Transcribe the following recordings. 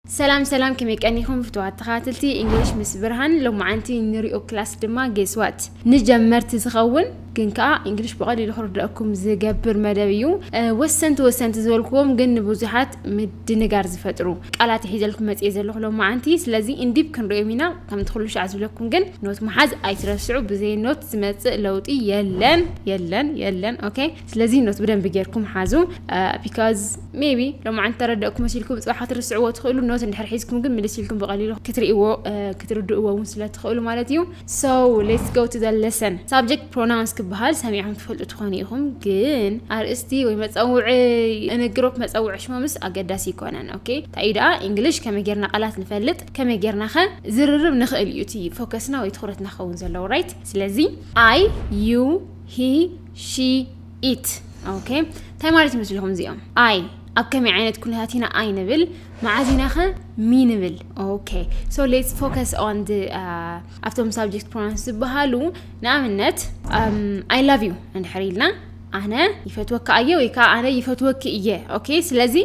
ሰላም ሰላም ከመይ ቀኒኹም ፍትዋት ተኸታተልቲ እንግሊሽ ምስ ብርሃን ሎማዓንቲ ንሪኦ ክላስ ድማ ጌስዋት ንጀመርቲ ዝኸውን ግን ከዓ እንግሊሽ ብቐሊሉ ክርድኣኩም ዝገብር መደብ እዩ ወሰንቲ ወሰንቲ ዝበልክዎም ግን ንብዙሓት ምድንጋር ዝፈጥሩ ቃላት ሒዘልኩም መፅኤ ዘለኹ ሎማዓንቲ ስለዚ እንዲብ ክንሪኦም ኢና ከምቲ ኩሉ ሻዕ ዝብለኩም ግን ኖት መሓዝ ኣይትረስዑ ብዘይ ኖት ዝመፅእ ለውጢ የለን የለን የለን ኦኬ ስለዚ ኖት ብደንቢ ጌርኩም ሓዙ ቢካዝ ሜቢ ሎማዓንቲ ተረደእኩ መሲልኩም ፅባሕ ክትርስዕዎ ትኽእሉ ኖት እንድሕር ሒዝኩም ግን ምልስ ኢልኩም ብቐሊሉ ክትርእዎ ክትርድእዎ እውን ስለትኽእሉ ማለት እዩ ሶ ሌትስ ጎ ቱ ዘ ለሰን ሳብጀክት ፕሮናውንስ ክበሃል ሰሚዕኩም ትፈልጡ ትኾኑ ኢኹም ግን ኣርእስቲ ወይ መፀውዒ እንግሮፕ መፀውዒ ሽሞምስ ኣገዳሲ ይኮነን ኦኬ እንታይ እዩ ደኣ እንግሊሽ ከመይ ጌርና ቃላት ንፈልጥ ከመይ ጌርና ኸ ዝርርብ ንኽእል እዩ እቲ ፎከስና ወይ ትኹረትና ክኸውን ዘለዎ ራይት ስለዚ ኣይ ዩ ሂ ሺ ኢት ኦኬ እንታይ ማለት ይመስልኹም እዚኦም ኣይ ኣብ ከመይ ዓይነት ኩነታት ኢና ኣይ ንብል መዓዝ ኢና ኸ ሚ ንብል ኦኬ ሶ ሌትስ ፎከስ ኦን ኣብቶም ሳብጀክት ፕሮናንስ ዝበሃሉ ንኣብነት ኣይ ላቭ ዩ እንድሕር ኢልና ኣነ ይፈትወካ እየ ወይ ከዓ ኣነ ይፈትወኪ እየ ኦኬ ስለዚ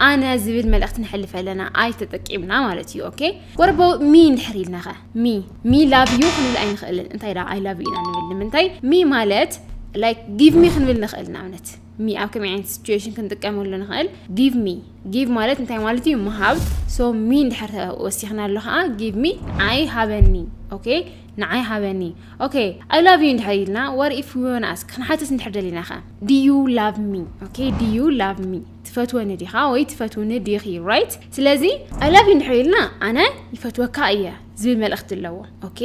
ኣነ ዝብል መልእኽቲ ንሕልፍ ኣለና ኣይ ተጠቂምና ማለት እዩ ኦኬ ወረበው ሚ እንድሕር ኢልና ኸ ሚ ሚ ላቭ ዩ ክንብል ኣይንኽእልን እንታይ ደኣ ኣይ ላቭ ዩ ኢና ንብል ንምንታይ ሚ ማለት ላይክ ጊቭ ሚ ክንብል ንኽእል ንኣብነት ሚ ኣብ ከመይ ዓይነት ሲትዌሽን ክንጥቀመሉ ንኽእል ጊቭ ሚ ጊቭ ማለት እንታይ ማለት እዩ ምሃብ ሶ ሚ እንድሕር ወሲኽና ኣሎ ከዓ ጊቭ ሚ ንዓይ ሃበኒ ኦኬ ንዓይ ሃበኒ ኦኬ ኣይ ላቭ ዩ እንድሕር ኢልና ወር ኢፍ ዩ ኣስክ ክንሓትት እንድሕር ደሊና ከ ድዩ ላቭ ሚ ኦኬ ድዩ ላቭ ሚ ትፈትወኒ ዲኻ ወይ ትፈትውኒ ዲኺ ራይት ስለዚ ኣይ ላቭ ዩ እንድሕር ኢልና ኣነ ይፈትወካ እየ ዝብል መልእኽቲ ኣለዎ ኦኬ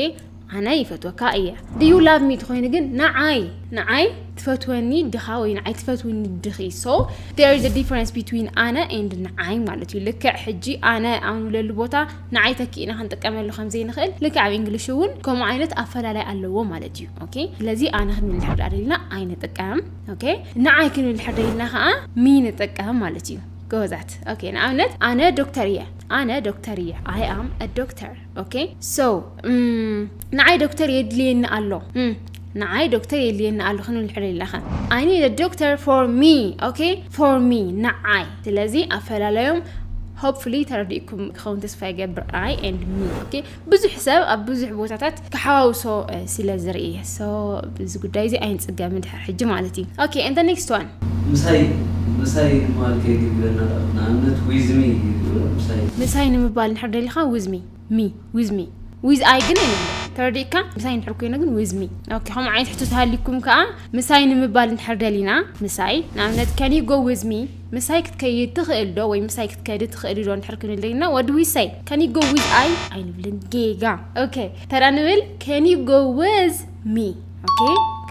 ኣነ ይፈትወካ እየ ድዩ ላቭ ሚ ትኾይኑ ግን ንዓይ ንዓይ ትፈትወኒ ድኻ ወይ ንዓይ ትፈትውኒ ድኺ ሶ ዴር ኢዝ ዲፈረንስ ቢትዊን ኣነ ኤንድ ንዓይ ማለት እዩ ልክዕ ሕጂ ኣነ ኣብ ንብለሉ ቦታ ንዓይ ተኪእና ክንጥቀመሉ ከም ዘይንኽእል ልክዕ ኣብ እንግሊሽ እውን ከምኡ ዓይነት ኣፈላላይ ኣለዎ ማለት እዩ ኦኬ ስለዚ ኣነ ክንብል እንድሕር ዳኣ ደሊና ኣይንጥቀም ኦኬ ንዓይ ክንድሕር ደይልና ከዓ ሚ ንጠቀም ማለት እዩ ጎበዛት ኦኬ ንኣብነት ኣነ ዶክተር እየ ኣነ ዶክተር እየ ኣይ ኣም ዶክተር ኦኬ ሶ ንዓይ ዶክተር የድልየኒ ኣሎ ንዓይ ዶክተር የድልየኒ ኣሎ ክንብል ንሕር ደይልና ከ ኣይ ኒድ ዶክተር ፎር ሚ ኦኬ ፎር ሚ ንዓይ ስለዚ ኣፈላለዮም ሆፕፉሊ ተረዲእኩም ክኸውን ተስፋ ይገብር ኣይ ኤንድ ሚ ኦኬ ብዙሕ ሰብ ኣብ ብዙሕ ቦታታት ክሓዋውሶ ስለ ዝርኢ ሶ እዚ ጉዳይ እዚ ኣይንጽገምን ድሕሪ ሕጂ ማለት እዩ ኦኬ and the next one ምሳይ ምሳይ ንምባል ከይትብለና ደኣ ንኣብነት with me ይብሉ ምሳይ። ምሳይ ንምባል እንድሕር ደሊኻ with me me with me with I ግን ኣይንብሎን ተረዲእካ ምሳይ እንድሕር ኮይኑ ግን with me ኦኬ ከምኡ ዓይነት ሕቶ ተሃልዩኩም ከኣ ምሳይ ንምባል እንድሕር ደሊና ምሳይ ንኣብነት can you go with me ምሳይ ክትከይድ ትኽእል ዶ ወይ ምሳይ ክትከዲ ትኽእሊ ዶ እንድሕር ክንልይና ወዲ ዊሰይ ከን ዩ ጎ ዊዝ ኣይ ኣይንብልን ጌጋ ኦኬ ተራ ንብል ከን ዩ ጎ ዊዝ ሚ ኦኬ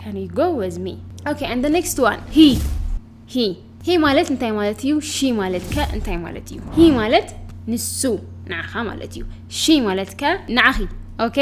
ከን ዩ ጎ ዊዝ ሚ ኦኬ ኣንድ ዘ ኔክስት ዋን ሂ ሂ ሂ ማለት እንታይ ማለት እዩ ሺ ማለት ከ እንታይ ማለት እዩ ሂ ማለት ንሱ ንዓኻ ማለት እዩ ሺ ማለት ከ ንዓኺ ኦኬ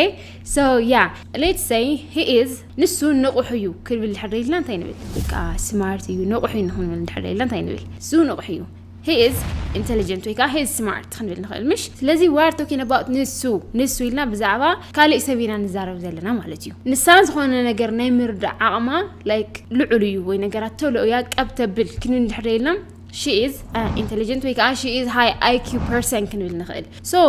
ሶ ያ ሌትስ ሰይ ሂ ኢዝ ንሱ ንቑሕ እዩ ክብል ድሕር ኢልና እንታይ ንብል? በቃ ስማርት እዩ ንቑሕ እዩ ንክንብል ድሕር ኢልና እንታይ ንብል? እሱ ንቑሕ እዩ ሂ ኢዝ ኢንተሊጀንት ወይ ከዓ ሂ ኢዝ ስማርት ክንብል ንኽእል ምሽ ስለዚ ዋር ቶኪን ኣባውት ንሱ ንሱ ኢልና ብዛዕባ ካሊእ ሰብ ኢና ንዛረብ ዘለና ማለት እዩ ንሳ ዝኾነ ነገር ናይ ምርዳእ ዓቕማ ላይክ ልዑል እዩ ወይ ነገራት ቶሎ እያ ቀብተብል ክንብል ድሕር ኢልና ሺ ኢዝ ኢንተሊጀንት ወይ ከዓ ሺ ኢዝ ሃይ ኣይኪዩ ፐርሰን ክንብል ንኽእል ሶ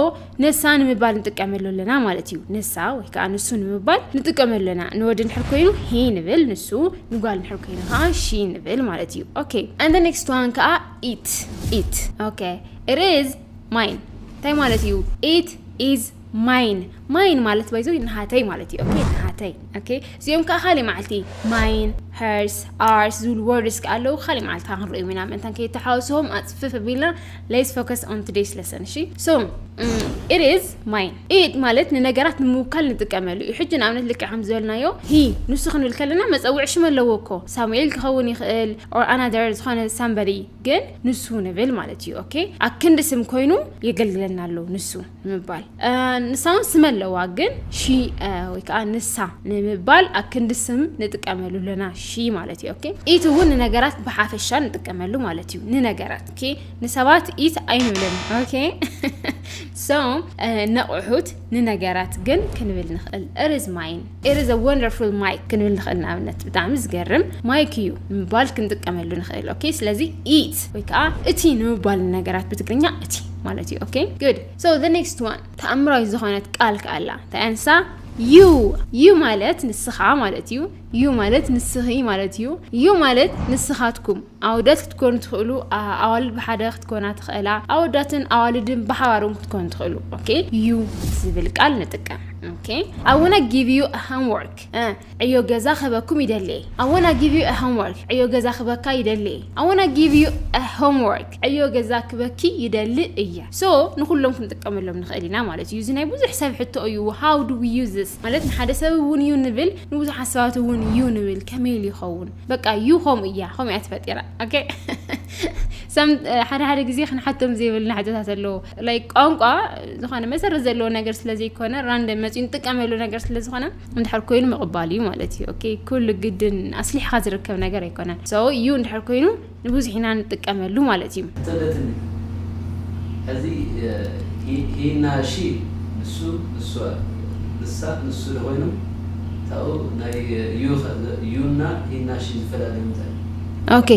ንሳ ንምባል ንጥቀመሉ ኣለና ማለት እዩ ንሳ ወይ ከዓ ንሱ ንምባል ንጥቀመሉ ኣለና ንወዲ ንድሕር ኮይኑ ሂ ንብል ንሱ ንጓል ንድሕር ኮይኑ ከዓ ሺ ንብል ማለት እዩ ኦኬ ኣንደ ኔክስት ዋን ከዓ ኢት ኢት ኦኬ ኢት ኢዝ ማይን እንታይ ማለት እዩ ኢት ኢዝ ማይን ማይን ማለት ባይዞ ንሃተይ ማለት እዩ ኦኬ ንሃተይ ኦኬ እዚኦም ከዓ ካሊእ መዓልቲ ማይን ሄርስ ኣርስ ዝብሉ ወርድስ ከዓ ኣለዉ ካሊእ መዓልቲ ከዓ ክንሪኦም ኢና ምእንታን ከይተሓወስዎም ኣፅፍፍ ኣቢልና ሌስ ፎከስ ኦን ቱዴይስ ለሰን እሺ ሶ ኢት ኢዝ ማይን ኢት ማለት ንነገራት ንምውካል ንጥቀመሉ እዩ ሕጂ ንኣብነት ልክዕ ከም ዝበልናዮ ሂ ንሱ ክንብል ከለና መፀውዒ ሽም ኣለዎ እኮ ሳሙኤል ክኸውን ይኽእል ኦር ኣናደር ዝኾነ ሳምበሪ ግን ንሱ ንብል ማለት እዩ ኦኬ ኣክንዲ ስም ኮይኑ የገልግለና ኣሎ ንሱ ንምባል ንሳ እውን ስም ኣለዋ ግን ሺ ወይ ከዓ ንሳ ንምባል ኣክንዲ ስም ንጥቀመሉ ኣለና ሺ ማለት እዩ ኦኬ ኢት እውን ንነገራት ብሓፈሻ ንጥቀመሉ ማለት እዩ ንነገራት ኦኬ ንሰባት ኢት ኣይንብልን ኦኬ ሶ ነቑሑት ንነገራት ግን ክንብል ንኽእል እርዝ ማይን It is a wonderful mic ክንብል ንኽእል ንኣብነት ብጣዕሚ ዝገርም ማይክ እዩ ንምባል ክንጥቀመሉ ንኽእል ኦኬ ስለዚ it ወይ ከዓ እቲ ንምባል ነገራት ብትግርኛ እቲ ማለት እዩ ኦኬ good so the next one ተኣምራዊት ዝኾነት ቃል ከዓ ኣላ እንታይ ኣንሳ ዩ ዩ ማለት ንስኻ ማለት እዩ ዩ ማለት ንስኺ ማለት እዩ ዩ ማለት ንስኻትኩም ኣወዳት ክትኮኑ ትኽእሉ ኣዋልድ ብሓደ ክትኮና ትኽእላ ኣወዳትን ኣዋልድን ብሓባር እውን ክትኮኑ ትኽእሉ ኦኬ ዩ ዝብል ቃል ንጥቀም ኦኬ ኣወና ጊቭ ዩ ሆምወርክ ዕዮ ገዛ ክህበኩም ይደሊ ኣወና ጊቭ ዩ ሆምወርክ ዕዮ ገዛ ክህበካ ይደሊ ኣወና ጊቭ ዩ ሆምወርክ ዕዮ ገዛ ክበኪ ይደሊ እየ ሶ ንኩሎም ክንጥቀመሎም ንኽእል ኢና ማለት እዩ እዚ ናይ ብዙሕ ሰብ ሕቶ እዩ ሃው ዱ ዊ ዩዝ ማለት ንሓደ ሰብ እውን ዩ ንብል ንብዙሓት ሰባት እውን ዩ ንብል ከመይ ኢሉ ይኸውን በቃ ዩ ከምኡ እያ ከምኡ እያ ተፈጢራ ኦኬ ሰም ሓደ ሓደ ግዜ ክንሓቶም ዘይብልና ሕቶታት ኣለዎ ላይ ቋንቋ ዝኾነ መሰረት ዘለዎ ነገር ስለ ዘይኮነ ራንደ መፅኡ ንጥቀመሉ ነገር ስለ ዝኾነ እንድሕር ኮይኑ ምቕባል እዩ ማለት እዩ ኦኬ ኩሉ ግድን ኣስሊሕካ ዝርከብ ነገር ኣይኮነን ሰው እዩ እንድሕር ኮይኑ ንብዙሕ ኢና ንጥቀመሉ ማለት እዩ። ተደትኒ ሕዚ ሂና ሺ ንሱ ንሷ ንሳ ንሱ ዶ ኮይኖም ታኡ ናይ ዩ ከ ዩ እና ሂና ሺ ዝፈላለዩ እንታይ እዩ? ኦኬ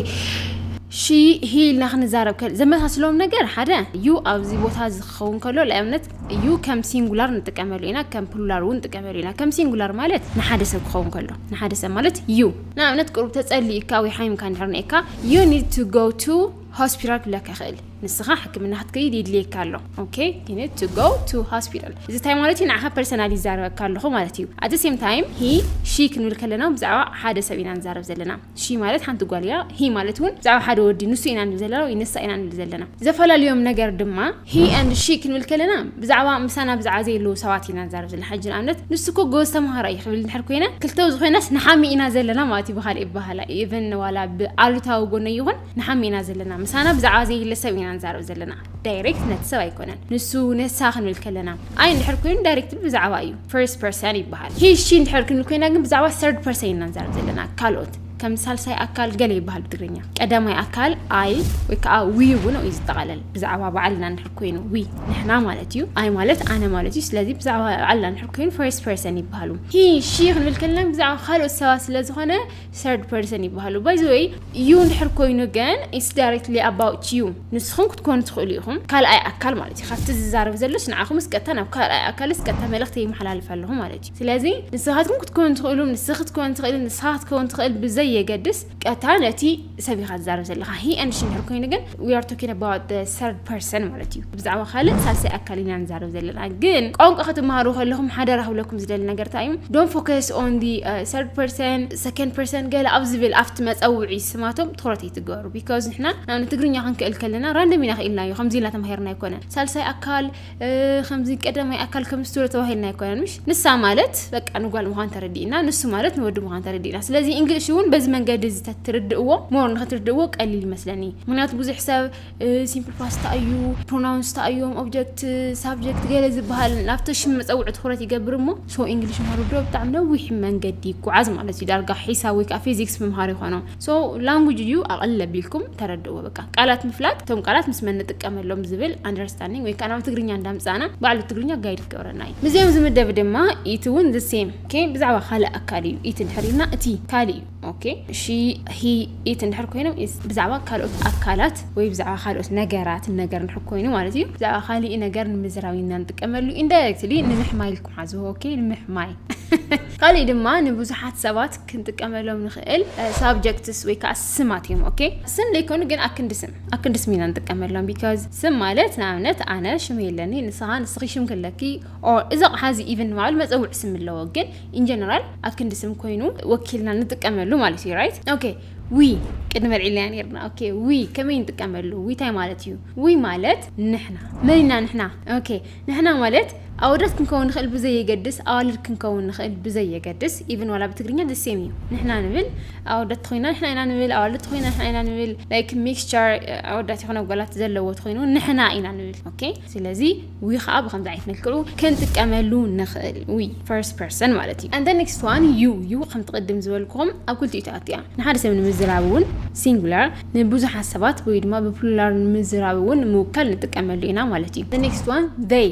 ሺ ሂ ኢልና ክንዛረብ ከል ዘመሳስሎም ነገር ሓደ ዩ ኣብዚ ቦታ እዚ ክኸውን ከሎ ንኣብነት ዩ ከም ሲንጉላር ንጥቀመሉ ኢና ከም ፕሉላር እውን ንጥቀመሉ ኢና ከም ሲንጉላር ማለት ንሓደ ሰብ ክኸውን ከሎ ንሓደ ሰብ ማለት ዩ ንኣብነት ቅሩብ ተጸሊእካ ወይ ሓሚምካ እንድሕር ነይካ you need to go to ሆስፒታል ክብለካ ይኽእል ንስኻ ሕክምና ክትከይድ ይድልየካ ኣሎ ኦኬ you need to go to hospital እዚ ታይ ማለት እዩ ንዓኻ ፐርሰናል ይዛረበካ ኣለኹ ማለት እዩ at the same time he she ክንብል ከለና ብዛዕባ ሓደ ሰብ ኢና ንዛረብ ዘለና she ማለት ሓንቲ ጓል እያ he ማለት እውን ብዛዕባ ሓደ ወዲ ንሱ ኢና ንብል ዘለና ወይ ንሳ ኢና ንብል ዘለና ዘፈላለዮም ነገር ድማ ሂ ኣንድ ሺ ክንብል ከለና ብዛዕባ ምሳና ብዛዕባ ዘየለዉ ሰባት ኢና ንዛረብ ዘለና ሕጂ ንኣብነት ንሱ እኮ ጎበዝ ተምሃራይ እዩ ክብል እንድሕር ኮይነ ክልተ ዝኾይናስ ንሓሚ ኢና ዘለና ማለት እዩ ብኻልእ ይበሃላ ኢቨን ዋላ ብኣሉታዊ ጎነይ ይኹን ንሓሚ ኢና ዘለና ምሳና ብዛዕባ ዘየለ ሰብ ኢና ንዛረብ ዘለና ዳይሬክት ነቲ ሰብ ኣይኮነን ንሱ ንሳ ክንብል ከለና ኣይ እንድሕር ኮይኑ ዳይሬክት ብዛዕባ እዩ ፈርስት ፐርሰን ይበሃል ሂ ሺ እንድሕር ክንብል ኮይና ግን ብዛዕባ ሰርድ ፐርሰን ኢና ንዛረብ ዘለና ካልኦት ከም ሳልሳይ ኣካል ገለ ይበሃል ብትግርኛ። ቀዳማይ ኣካል ኣይ ወይ ከዓ ዊ እውን እዩ ዝጠቓለል። ብዛዕባ ባዕልና እንድሕር ኮይኑ ዊ ንሕና ማለት እዩ። ኣይ ማለት ኣነ ማለት እዩ። ስለዚ ብዛዕባ ባዕልና እንድሕር ኮይኑ ፈርስት ፐርሰን ይበሃሉ። ሂ ሺ ክንብል ከለና ብዛዕባ ካልኦት ሰባት ስለ ዝኾነ ሰርድ ፐርሰን ይበሃሉ። ባይ ዘ ወይ ዩ እንድሕር ኮይኑ ግን ኢትስ ዳይሬክትሊ ኣባውት ዩ ንስኹም ክትኮኑ ትኽእሉ ኢኹም። ካልኣይ ኣካል ማለት እዩ። ካብቲ ዝዛረብ ዘሎስ ንዓኹምስ ቀጥታ ናብ ካልኣይ ኣካልስ ቀጥታ መልእኽቲ ይመሓላልፍ ኣለኹ ማለት እዩ። ስለዚ ንስኻትኩም ክትኮኑ ትኽእሉም፣ ንስኺ ክትኮኒ ትኽእሊ፣ ንስኻ ክትከውን ትኽእል ብዘይ የገድስ ቀጥታ ነቲ ሰብ ኢኻ ትዛረብ ዘለኻ። ሂ ኤንድ ሺ እንድሕር ኮይኑ ግን ዊ ኣር ቶኪንግ ኣባውት ዘ ሰርድ ፐርሰን ማለት እዩ። ብዛዕባ ካልእ ሳልሳይ ኣካል ኢና ንዛረብ ዘለና። ግን ቋንቋ ክትመሃሩ ከለኹም ሓደራ ክብለኩም ዝደሊ ነገር እንታይ እዩ ዶንት ፎከስ ኦን ዲ ሰርድ ፐርሰን ሰከንድ ፐርሰን ገለ ኣብ ዝብል ኣብቲ መጸውዒ ስማቶም ትኹረት ኣይትግበሩ ቢካዝ ንሕና ናብ ትግርኛ ክንክእል ከለና ራንደም ኢና ክኢልናዮ ከምዚ ኢልና ተማሂርና ኣይኮነን ሳልሳይ ኣካል ከምዚ ቀዳማይ ኣካል ከም ስቱረ ተባሂልና ኣይኮነን ምሽ ንሳ ማለት በቃ ንጓል ምዃን ተረዲእና ንሱ ማለት ንወዲ ምዃን ተረዲእና ስለዚ እንግሊሽ እውን በዚ መንገዲ እዚ ትርድእዎ ሞር ንክትርድእዎ ቀሊል ይመስለኒ ምክንያቱ ብዙሕ ሰብ ሲምፕል ፓስታ እዩ ፕሮናውንስ ታ እዮም ኦብጀክት ሳብጀክት ገለ ዝበሃል ናብቲ ሽም መፀውዒ ትኩረት ይገብር እሞ ሶ እንግሊሽ ምሃሩ ዶ ብጣዕሚ ነዊሕ መንገዲ ይጓዓዝ ማለት እዩ ዳርጋ ሒሳብ ወይ ከዓ ፊዚክስ ምምሃር ይኾኖ ሶ ላንጉጅ እዩ ኣቐል ኣቢልኩም ተረድእዎ በቃ ቃላት ምፍላጥ እቶም ቃላት ምስ መን ንጥቀመሎም ዝብል ኣንደርስታንዲንግ ወይ ከዓ ናብ ትግርኛ እንዳምፃእና ባዕሉ ትግርኛ ጋይድ ክገብረና እዩ ምስዚኦም ዝምደብ ድማ ኢቲ እውን ዝሴም ኦኬ ብዛዕባ ካልእ ኣካል እዩ ኢቲ እንድሕር ኢልና እቲ ካልእ እዩ ኦኬ ሺ ሂ ኢቲ እንድሕር ኮይኖም ኢዝ ብዛዕባ ካልኦት ኣካላት ወይ ብዛዕባ ካልኦት ነገራት ነገር እንድሕር ኮይኑ ማለት እዩ ብዛዕባ ካሊእ ነገር ንምዝራብ ኢና ንጥቀመሉ ኢንዳይሬክትሊ ንምሕማይ ኢልኩም ሓዝዎ ኦኬ ንምሕማይ ካልእ ድማ ንብዙሓት ሰባት ክንጥቀመሎም ንኽእል ሳብጀክትስ ወይ ከዓ ስማት እዮም ኦኬ ስም ዘይኮኑ ግን ኣክንዲ ስም ኣክንዲ ስም ኢና ንጥቀመሎም ቢካዝ ስም ማለት ንኣብነት ኣነ ሽም የለኒ ንስኻ ንስኺ ሽም ክለኪ ኦር እዚ ኣቕሓ እዚ ኢቨን ንባዕሉ መፀውዒ ስም ኣለዎ ግን ኢንጀነራል ኣክንዲ ስም ኮይኑ ወኪልና ንጥቀመሉ ማለት እዩ ራይት ኦኬ ዊ ቅድሚ ኣልዒልና ነርና ኦኬ ዊ ከመይ ንጥቀመሉ ዊ እንታይ ማለት እዩ ዊ ማለት ንሕና መን ኢና ንሕና ኦኬ ንሕና ማለት ኣወዳት ክንከውን ንኽእል ብዘይየገድስ ኣዋልድ ክንከውን ንኽእል ብዘይየገድስ ኢቭን ዋላ ብትግርኛ the same እዩ ንሕና ንብል ኣወዳት ተኾይና ንሕና ኢና ንብል ኣዋልድ ተኾይና ንሕና ኢና ንብል like mixture ኣወዳት ይኹን ኣጓላት ዘለዎ ተኾይኑ ንሕና ኢና ንብል ኦኬ ስለዚ ዊ ከዓ ብከምዚ ዓይነት መልክዑ ክንጥቀመሉ ንኽእል ዊ first person ማለት እዩ and the next one you you ከምቲ ቅድም ዝበልኩም ኣብ ክልቲኡ ትኣቱ እያ ንሓደ ሰብ ንምዝራብ እውን singular ንብዙሓት ሰባት ወይ ድማ ብፕሉላር ንምዝራብ እውን ንምውካል ንጥቀመሉ ኢና ማለት እዩ። The next one they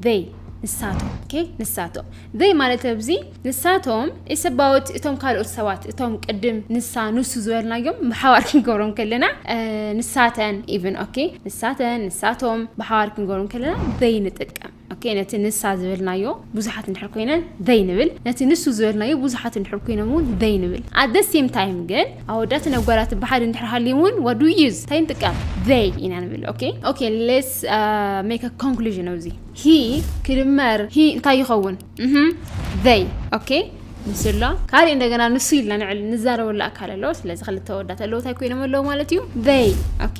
they ንሳቶም ኦኬ ንሳቶም they ማለት ኣብዚ ንሳቶም is about እቶም ካልኦት ሰባት እቶም ቅድም ንሳ ንሱ ዝበልናዮም ብሓባር ክንገብሮም ከለና ንሳተን ኢቭን ኦኬ ንሳተን ንሳቶም ብሓባር ክንገብሮም ከለና they ንጥቀም ኦኬ ነቲ ንሳ ዝበልናዮ ብዙሓት እንድሕር ኮይነን they ንብል ነቲ ንሱ ዝበልናዮ ብዙሓት እንድሕር ኮይኖም እውን they ንብል at the same time ግን ኣወዳትን ኣጓላትን ብሓደ እንድሕር ሃልዮም እውን what do we use እንታይ ንጥቀም they ኢና ንብል ኦኬ ኦኬ let's uh, make a conclusion ኣብዚ he ክድመር he እንታይ ይኸውን they ኦኬ ንሱ ኣሎ ካልእ እንደገና ንሱ ኢልና ንዕል ንዛረበሉ ኣካል ኣሎ ስለዚ ክልተ ወዳት ኣለዉ እንታይ ኮይኖም ኣለዉ ማለት እዩ they ኦኬ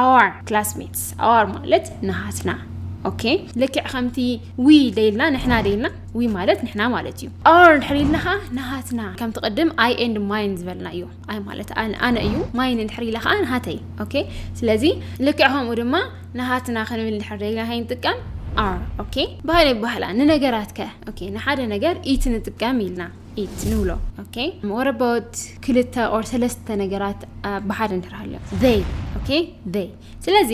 ኣዋር ክላስሜትስ ኣዋር ማለት ንሃትና ኦኬ ልክዕ ከምቲ ዊ ደይልና ንሕና ደይልና ዊ ማለት ንሕና ማለት እዩ ኣር እንድሕር ኢልና ከዓ ንሃትና ከምቲ ቅድም ኣይ ኤንድ ማይን ዝበልና እዩ ኣይ ማለት ኣነ እዩ ማይን እንድሕር ኢላ ከዓ ንሃተይ ኦኬ ስለዚ ልክዕ ከምኡ ድማ ንሃትና ክንብል እንድሕር ደይልና ከይ ንጥቀም ኣር ኦኬ ባህል ይባህላ ንነገራት ከ ኦኬ ንሓደ ነገር ኢቲ ንጥቀም ኢልና ኢት ንብሎ ኦኬ ወረ ቦት ክልተ ኦር ሰለስተ ነገራት ብሓደ እንድሕር ሃልዮም ዘይ ኦኬ ዘይ ስለዚ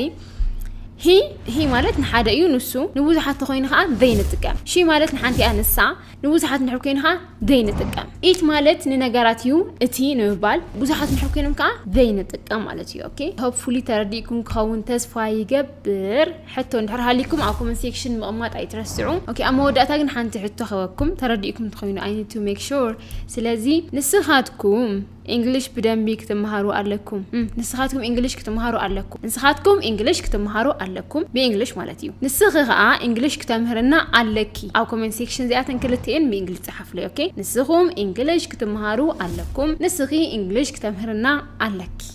ሂ ሂ ማለት ንሓደ እዩ ንሱ ንብዙሓት ተኮይኑ ከዓ ዘይ ንጥቀም ሺ ማለት ንሓንቲ እያ ንሳ ንብዙሓት ንድሕር ኮይኑ ከዓ ዘይ ንጥቀም ኢት ማለት ንነገራት እዩ እቲ ንምባል ብዙሓት ንድሕር ኮይኖም ከዓ ዘይ ንጥቀም ማለት እዩ ኦኬ ሆፕፉሊ ተረዲእኩም ክኸውን ተስፋ ይገብር ሕቶ እንድሕር ሃልይኩም ኣብ ኮመንት ሴክሽን ምቕማጥ ኣይትረስዑ ኦኬ ኣብ መወዳእታ ግን ሓንቲ ሕቶ ክህበኩም ተረዲእኩም ትኾይኑ ኣይ ኒድ ቱ ሜክ ሹር ስለዚ ንስኻትኩም እንግሊሽ ብደንቢ ክትመሃሩ ኣለኩም ንስኻትኩም እንግሊሽ ክትመሃሩ ኣለኩም ንስኻትኩም እንግሊሽ ክትመሃሩ ኣለኩም ብእንግሊሽ ማለት እዩ ንስኺ ከዓ እንግሊሽ ክተምህርና ኣለኪ ኣብ ኮመንት ሴክሽን እዚኣተን ክልትኤን ብእንግሊሽ ፀሓፍለይ ኦኬ ንስኹም እንግሊሽ ክትመሃሩ ኣለኩም ንስኺ እንግሊሽ ክተምህርና ኣለኪ